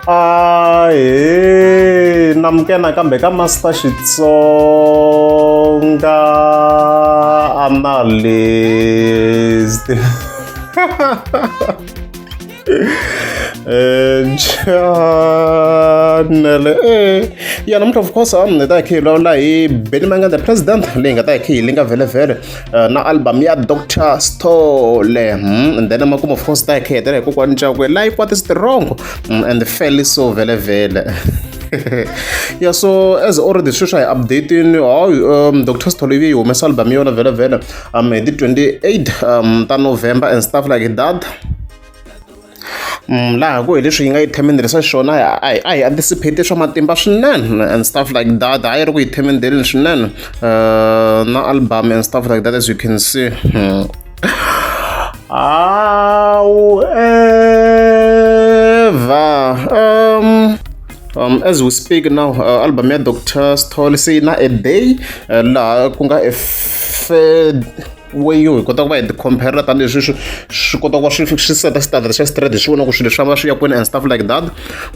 a he na muke nakambe ka master xitsonga analyst chanele eh, eh, eh. ya namuntlha of course a ni ta hi khiyilawula hi benny manganda president leyi nga ta hi khiyili nga vhelevhele Uh, na album ya dr stole mm, and then emakumu of course ta hi khiyetela hikokwani cakwe life what is the wrong mm, and fairly so vele vele yeah so as already sweswi hi updating how um, dr stolivi yi humesa album yona vele vele um hi ti 28 um, ta november and stuff like that laha ku hi leswi yi nga yi themendele swa xiswona a hi a hi anticipate swa matimba swinene and stuff like that a yi ri ku yi themendeleni swinene uh, na album and stuff like that as you can see hmm. however um, um, as we speak now uh, album ya dr stol se yi na a day uh, laha ku nga a weyi hi kota ku va hi ti-compare tanihileswi swi swi kota ku va swi swi seta standard xa straight hi swi vona ku swilo swa va swi ya kwini and stuff like that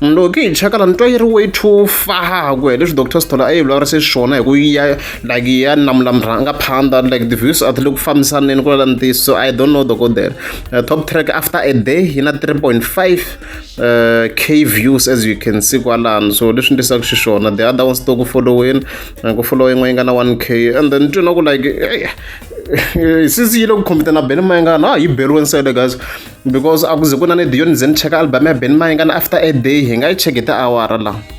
loko hi cheka la ni twa yi ri way too far ku leswi doctor stola a yi vulavurise swona hi ku ya like ya namulamiranga phanda like the views a ti le ku fambisaneni ku lala ntiyiso so i don't know dokodela uh, top track after a day yi na 3.5 uh, k views as you can see kwalano so leswi ndisaka xiswona the other ones to ku followini ku foloyi yin'we yi nga na 1 k and then twi na ku like eh, eh, since yi le ku khomita na ben mayengana ha yi beriwe nsele guys because a ku ze ku na ni diyo ni ze ni cheka album ya ben mayengana after a day hi nga yi cheki tiawara laha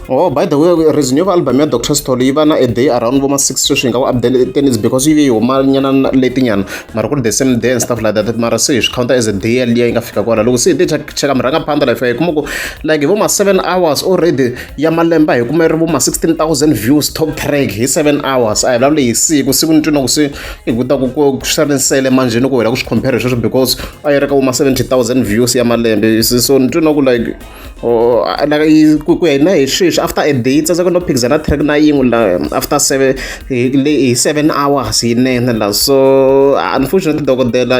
oh by the way reason yo va album ya dr stol yi va na a day around voma six sweswi hi nga ku updaten is because yi ve yi huma nyana letinyana mara ku ri the same day and stuff like that mara se hi swi counter as a day yaliya yi nga fika kwala loko se hi te cheka mi rhanga phanda life ya hi kuma ku like hi voma seven hours already ya malemba hi kume ri vo ma 16000 views top track hi 7 hours a hi vulavule hi siku siku ni twina ku se hi kuta ku ku swi ri nsele manjhe ni ku hela ku swi compare hi sweswo because a yi ri ka vo ma 70000 views ya malembe so ni twina ku like oh, like ku ya hina hi sweswi after a day tsandzeka no phikizana track na yin'we la after 7 hi 7 hours yinene la so unfortunately dokodela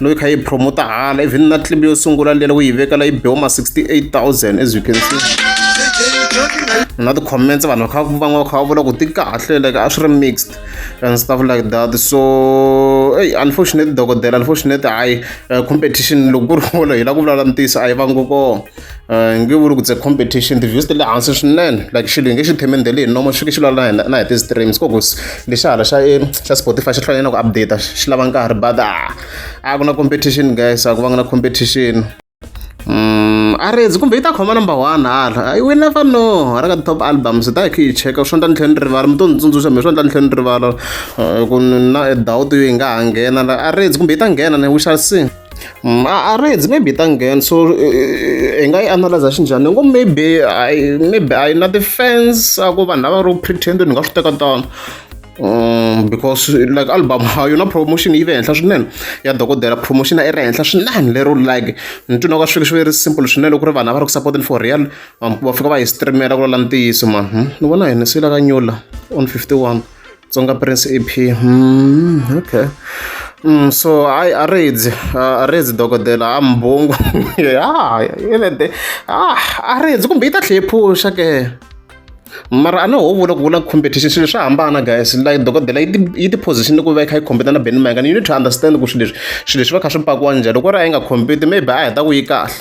loyi kha yi promoter hala even na clip yo sungula lela ku yi veka la yi biwa ma 68000 as you can see na ti-comments vanhu va kha van'we va kha va vula ku ti kahle like a swi ri mixed and stuff like that so ey unfortunate dokodela unfortunate hayi eh, competition loko ku ri wolo hi la ku vulavula ntiyiso a yi vangi kona eh, nge vuli ku tse competition ti-views ti le hansi swinene like xilo hi nge xi themendele hi nomo xi ke xi lwala na na hi ti-streams ko ku lexi hala xa eh, xa spotify xi hlwanyana ku updata xi lava nkarhi but a ah, a ah, ku na competition guys a ku va nga na competition Mm, a redzi kumbe yi ta khoma number one hala we never know ra ka top albums ta hi khe yi cheka swo ndla ni tlhela ni rivala mi to ni tsundzuxa mi swo ndla ni tlhela ni rivala eh, ku na doubt yo yi nga ha nghena a redzi kumbe yi ta nghena ne we shall see Mm, a a reds maybe ta nghena so eh, eh, hi nga yi analyza xinjhani ni ngo maybe I maybe a yi na ti-fans a ku vanhu lava ro pretend ni nga swi teka tano um because like album ha yona promotion yi ve henhla swinene ya dokodela promotion a i ri henhla swinene lero like ni twi na ka swilo swi ve ri simple swinene ku ri vanhu a va ri ku supporteni for real va fika va hi streamela ku lala ntiyiso mani hmm? ni vona hi ni siyilaka nyula on 51 Tsonga Prince EP mm, okay Mm, so I arezi arezi dokodela a mbhungu ya yelede ah arezi kumbe yi ta tlhe yi phuxa ke mara a ni ho vula ku vula competition swilo swa hambana guys like dokodela yi ti yi ti position ku va yi kha yi compete na Ben Mayengani you need to understand ku swilo leswi swilo leswi va kha swi pakiwa njhani loko ri a yi nga compete maybe a heta ku yi kahle.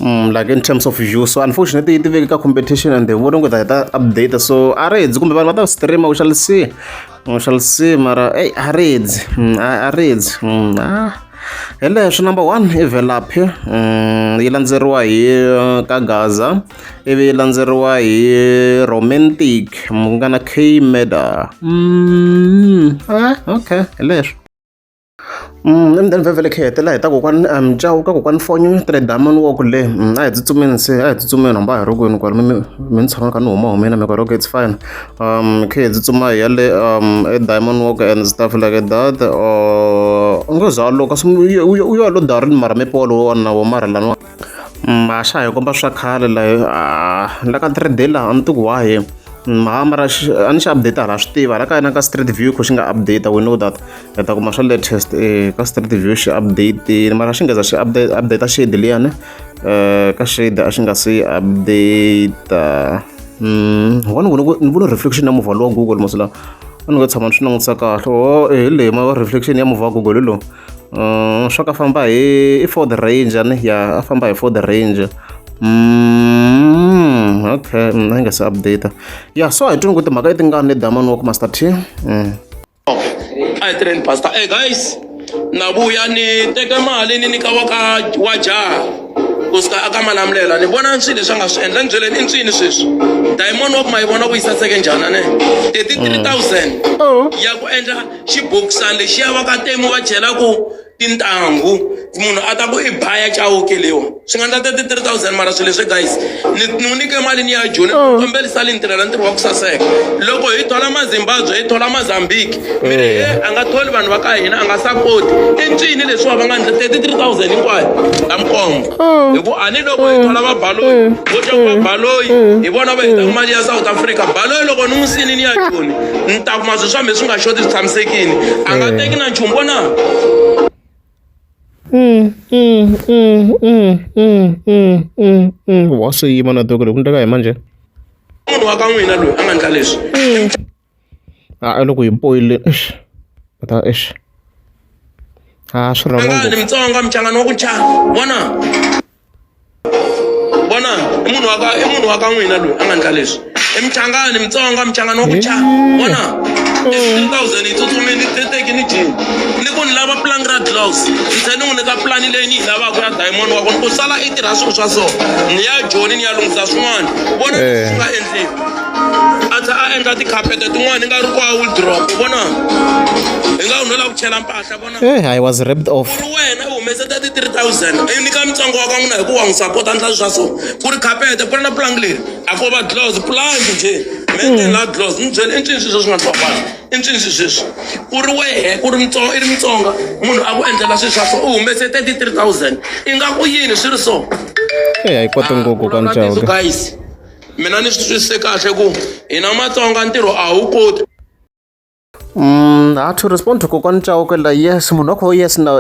Mm, like in terms of you so unfortunately yi tiveki ka competition and they wouldn't with ta update so a ri hedzi kumbe vanhu va ta streama u shall see u shall see mara ey a ri hedzi mm, a ri hedzi mm, ah. hi leswi number one i velaphi yi landzeriwa hi uh, ka gaza ivi yi landzeriwa hi romantic mu nga na k meda ah, okay hi leswi emutini vhevhele khe hetela hi ta kokwani mjawu ka kokwani fonyo ni tele damani wa ku le a hi tsutsumeni se a hi tsutsumeni hamba hi rogweni kwala mi mi ni tshama ka ni huma humina mi ka rogo it's fine um khe hi tsutsuma hi ya le um e diamond walk and stuff like that u ngo zalo kasi u yo lo darini mara mi polo wona wo mara laniwa Ma xa ha hi komba swa khale layo la ka three day laha a ni tiku wahe mara mara a ni xi update hala swi tiva hala ka yena ka street view ku xi nga update we know that hi ta kuma swa latest ka street view xi update mara xi ngeza xi update update shade liyani ka shade a xi nga se update one ku ni vona reflection ya muvhalo wa google masilawa a ni nga tshama ni swi langutisa kahle o hi leyi ma reflection ya muvhalo wa google hi lowu uh, swa ku famba hi i ford ranger ni ya a famba hi ford ranger mm, okay mm, na nga se update ya so hi tuni ku timhaka leti nga ni damani wa ku master t mm. a hi tirheni pastor hey guys na vuya ni teke mali ni nyika wa ka wa jaha ku suka aka malamlela ni vona swilo leswi a nga swi endla ni byeleni i nswini sweswi diamond wa ku ma yi vona ku yi saseke njhani ne thirty three thousand oh. ya ku endla xibokisana lexiya vakatemu va chelaku tintangu munhu a ta ku i baya chawuke lewa swi nga ndla 33000 mara swilo leswi guys ni n'wi nyike mali ni ya joni oh. kombelisa li ni tirhela ntirho wa ku saseka loko hi thola mazimbabwe hi thola mazambiki mi ri eh. a nga tholi vanhu va ka hina a nga sapoti i ncini leswiwa va nga ndla 33000 hinkwayo ta mikombo oh. hi ku a ni loko hi oh. thola vabaloyi vo twa ku vabaloyi hi vona va heta mali ya south africa baloyi loko ni n'wi sini ni ya joni ni ta kuma swilo swa mhe swi nga xoti swi tshamisekile a nga teki na nchumu vona wa swi yima na toko loko ku ndleka hi manje munhu wa ka n'wina loyi a nga ndla leswi a loko hi poyile ta ex a swi rhanga angani mitsonga muchangani wa ku cha vona vona i munhu wa ka i munhu wa ka n'wina loyi a nga ndla leswi i michangani mitsonga michangani wa ku cha vona two thousand yi tsutsumi ni teteki ni jini ni ku ni lava plan ra gloves ni tlhe ni n'wi nyika plan leyi ni yi lavaka ya diamond wa kona ku sala i tirha swilo swa so ni ya joni ni ya lunghisa swin'wana vona leswi swi nga endliwa a tlhe a endla tikhapete tin'wana ni nga ri kwa wildrop vona hi nga wu no lava ku chela mpahla Eh, I was ripped off. ri wena u humese 33000 i nyika mutsongo wa ka n'wina hikuva n'wi sapota ndla swa so ku ri khapete ku ri na pulangi leri a ko va dlos pulangi nje menten la dlos ni byele i ncini swi sweswi nga twakwana i ncini swi sweswi ku ri wehe ku ri mutsonga i ri mutsonga munhu a ku endlela swi swa so u humese 33000 i nga ku yini swi ri so Eh, a yi koti ngopfu ka Vulavula ntiyiso, ncawu. guys mina ni swi twisise kahle ku hina matsonga ntirho a wu koti ha to respond to kokwani chauke la yes munhu wa kho yes na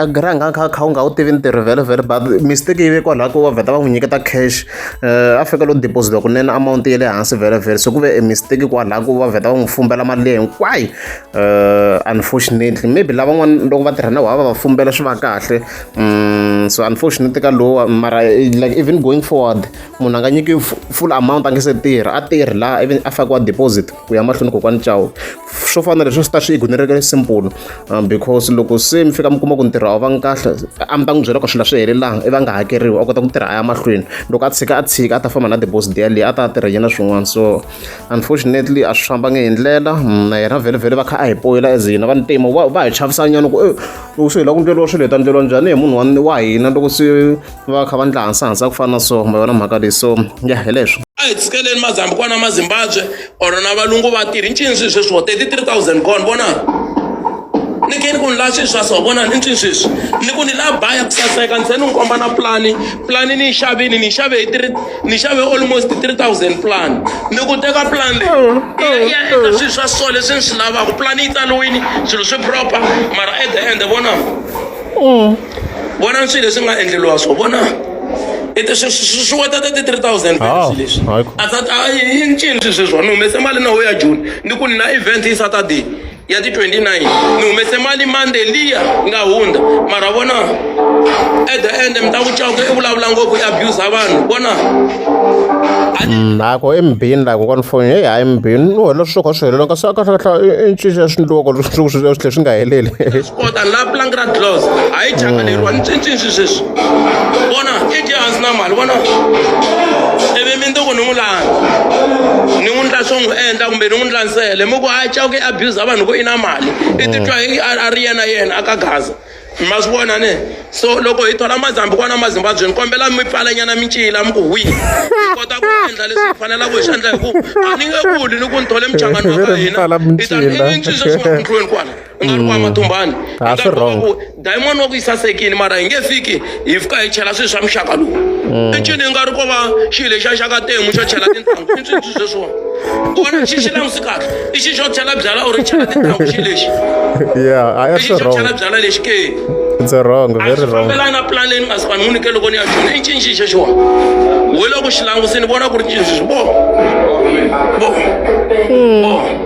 a gra nga kha kha u nga wu tivi ntirho vhele vhele but mistake yi ve kwalaho ko va vheta va n'wi nyiketa cash um a fika lo deposit kunene amount ya le hansi vhele vhele so ku ve e mistake kwalaho ko va vheta va n'wi fumbela mali leyi hinkwayo um unfortunately maybe lavan'wana loko va tirha na wava va fumbela swi va kahle um so unfortunately ka lowa mara like even going forward munhu a nga nyiki full amount a nge se tirha a tirhi laha ivi a fakiwa deposit ku ya mahlweni kokwani cawu swo fana leswi swi ta swi igunereka ni simple um, because loko se mi fika mi kuma ku ntirho a wu vangi kahle a mi ta n'wi byela ku swilo swi helelanga i va nga hakeriwi a kota ku tirha a ya mahlweni loko a tshika a tshika a ta famba na debos deya leyi a ta tirha yena swin'wana so unfortunately a swi fambanga hi ndlela mm, na yena vhelevhele va kha a hi poyela as hina va ntima va hi chavisanyana ku eh, loko swi hela ku ndleriwa swilo hi ta ndleriwa njhani hi munhu wa hina loko se va kha va ndla hansahansa ku fana na so ma yona mhaka leyi so ya hi leswo a hi tshikeleni mazambi kwana mazimbabwe or na valungu va tirhi ncini swilo sweswi wo 33000 gone vona ni ke ni ku ni la swilo swa so vona ni ncini sweswi ni ku ni la baya ku saseka ni se ni n'wi komba na plani plani ni yi xavini ni yi xave hi three ni yi xave almost 3000 plani ni ku teka plani leyi ya eka swilo swa so leswi ni swi lavaka plani yi tsaliwini swilo swi proper mara at the end vona vona swilo leswi nga endleriwa swo vona swiwetata ti-three thousand ah, leswi i ncini swi sweswo ni humese mali na ho ya june ni ku ni na event hi saturday ya ti-29 ni humese mali monday liya nga hundza mara vona at the end mi ta ku cawuka i vulavula ngopfu i abusa vanhu vona nako mm, embini la kokwana foni heyi hayi embini u helela swi swo kha swi helela kasi a kahlekahle i ncini ya swindluwa ko swi tlhe swi nga heleli kota la plank ra gloss a yi changaleriwa ni cincini swi sweswi vona i dye hansi na mali vona ivi mi ndoko ni n'wi langa ni n'wi ndla swo n'wi endla kumbe ni n'wi ndla nsele mi ku a cawuke abuse a vanhu ku i na mali i titwa hi a ri yena yena a ka gaza ma swi vona ne so loko hi thola mazambi kwana mazimbabwe ni kombela mi pfalanyana mincila mi ku hwi hi kota ku endla leswi hi fanelaka hi swi endla hi ku a ni nge kuli ni ku ni thole muchangani wa ka hina i ta ni cinca swi nga ku ndlweni kwala u nga ri kwa matumbani a swi wrong diamond wa ku yi sasekini mara hi nge fiki hi fika hi chela swilo swa muxaka lowu mm. encini hi nga ri ko va xilo lexi a xaka temu xo chela tintanghu i swintshwi sweswiwani kona xi xi langusi kahle i xi xo chela byala or chela tintanghu xi lexi i xi xo chela byala lexi ke It's a wrong, very wrong. Fambelana na plan leyi ni nga si vanhu munike loko ni ya xona i cinci xe xiwa. Hi loko xi langusini vona ku ri cinci swi bo. Bo. Bo.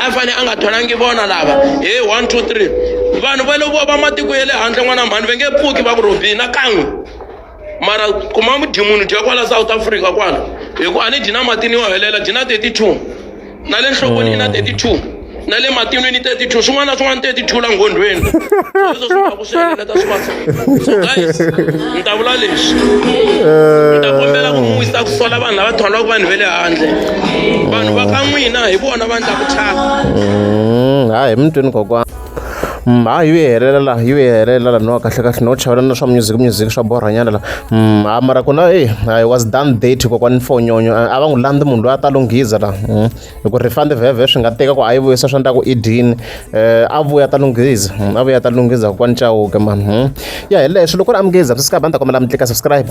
a fanele a nga tholangi vona lava he one two three vanhu va lovo va matiko ya le handle n'wana mhani va nge pfuki va ku rhobi na kan'we mara kuma mudimuni dya kwala south africa kwala hi ku a ni dyi na matini yo helela dyi na 32 na le nhlokweni yi na 32 na le matinwini 32 swin'wana na swin'wana 32 la nghondhweni swi helela ka swivasa so guys ni ta vula leswi ni ta kombela ku n'wi ta ku sola vanhu lava tholaka vanhu va le handle vanhu va ka n'wina hi vona va ndlaku thyaka Mm, ha hi mutweni kokwana Mm, ha yi helela la yi helela la no kahle kahle no chawela na swa music music swa borhanyana la Mm, ha mara ku na e i was done date kokwana mfonyonyo a a va n'wi landzi munhu loyi a ta lunghiza la Mm. hi ku refund vhevhe swi nga teka ku a yi vuyisa swa ndlaku edini um a vuya ta lunghiza hmm, a vuya ta lunghiza kokwani cawuke mani hmm. ya hi leswi loko ri amukhiza swi sikaba ni ta kombela mi tlika subscribe